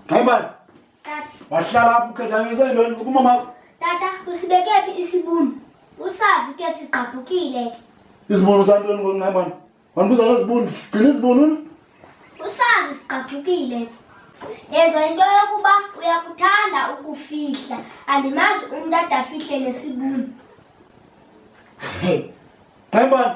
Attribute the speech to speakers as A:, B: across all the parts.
A: Bye bye. Tata.
B: Wahlala apho
A: ukhethanisa into yini ukuma mama. Tata usibeke
B: phi isibunu? Usazi ke sigqabhukile ke. Isibunu
A: santoni ngoncemana? Wandibuza ngezibunu, gcina izibunu. Usazi
B: sigqabhukile ke. Yenza into yokuba uyakuthanda ukufihla. Andimazi umntu adafihle nesibunu.
A: Hey. Bye bye.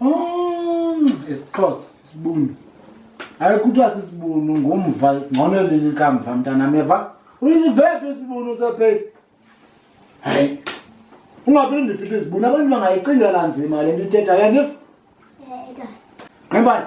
B: Oh,
A: isixhosa isibunu ayikuthiwa sisibunu ngumva ngcono lini kamva mntanam yeva uyisivephi isibunu sepheli hayi ungaphinde ndifihle izibunu abantu bangayicingela nzima le nto ithetha yandiva nximbani